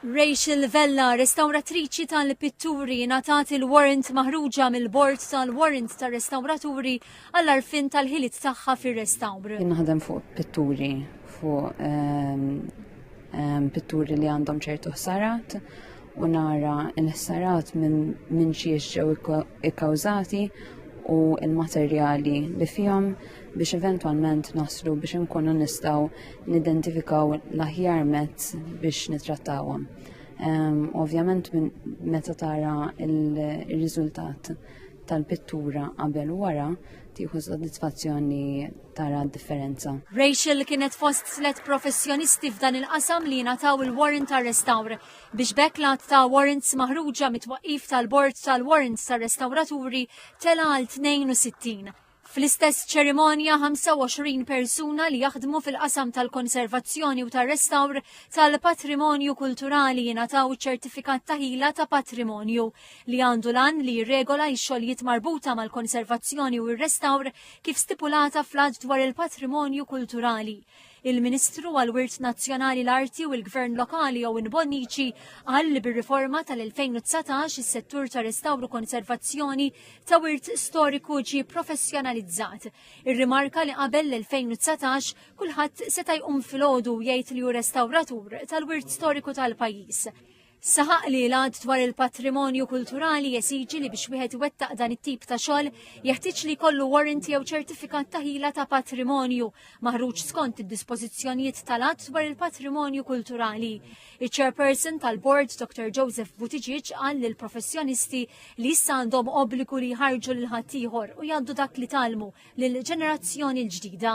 Rachel Vella, restawratriċi tal-pitturi, ngħatat il-warrant maħruġa mill-Bord tal-Warrants tar-Restawraturi għall-għarfien tal-ħiliet tagħha fir-restawr. Jien naħdem fuq pitturi, fuq ehm, ehm, pitturi li għandhom ċertu ħsarat u nara l-ħsarat minn min xiex ġew ikkawżati u l-materjali li fihom biex eventwalment naslu biex inkunu nistgħu nidentifikaw l-aħjar mezz biex nitrattawhom. Um, Ovvjament meta tara il-riżultat tal-pittura qabel wara tieħu soddisfazzjoni tara differenza. Rachel kienet fost slet professjonisti f'dan il-qasam li nataw il-warrant ta' restawr. biex b'hekk l-għadd ta' warrants maħruġa mit-twaqqif tal-Bord tal-Warrants tar-Restawraturi tela' għal 62. Fl-istess ċerimonja, 25 persuna li jaħdmu fil-qasam tal-konservazzjoni u tar-restawr tal-patrimonju kulturali jingħataw iċ-Ċertifikat ta' Ħila ta' Patrimonju, li għandu l-għan li jirregola x-xogħlijiet marbuta mal-konservazzjoni u r-restawr kif stipulata fl-Att dwar il-Patrimonju Kulturali. Il-Ministru għall-Wirt Nazzjonali l-Arti u l-Gvern Lokali Owen Bonnici qal li bir-riforma tal-2019 is-settur ta' restawru konservazzjoni ta' wirt storiku ġie professjonalizzat. Irrimarka li qabel l-2019 kulħadd seta' jqum filgħodu u jgħid li hu restawratur tal-wirt storiku tal-pajjiż. Saħaq li l-għad dwar il-patrimonju kulturali jesiġi li biex wieħed iwettaq dan it-tip ta' xogħol jeħtieġ li jkollu warrant jew ċertifikat ta' ħila ta' patrimonju maħruġ skont id-dispożizzjonijiet tal-għad dwar il-patrimonju kulturali. Iċ-chairperson tal-bord Dr. Joseph Buttigieg qal li l-professjonisti li issa għandhom obbligu li jħarġu lil ħaddieħor u jgħaddu dak li talmu lill-ġenerazzjoni l-ġdida.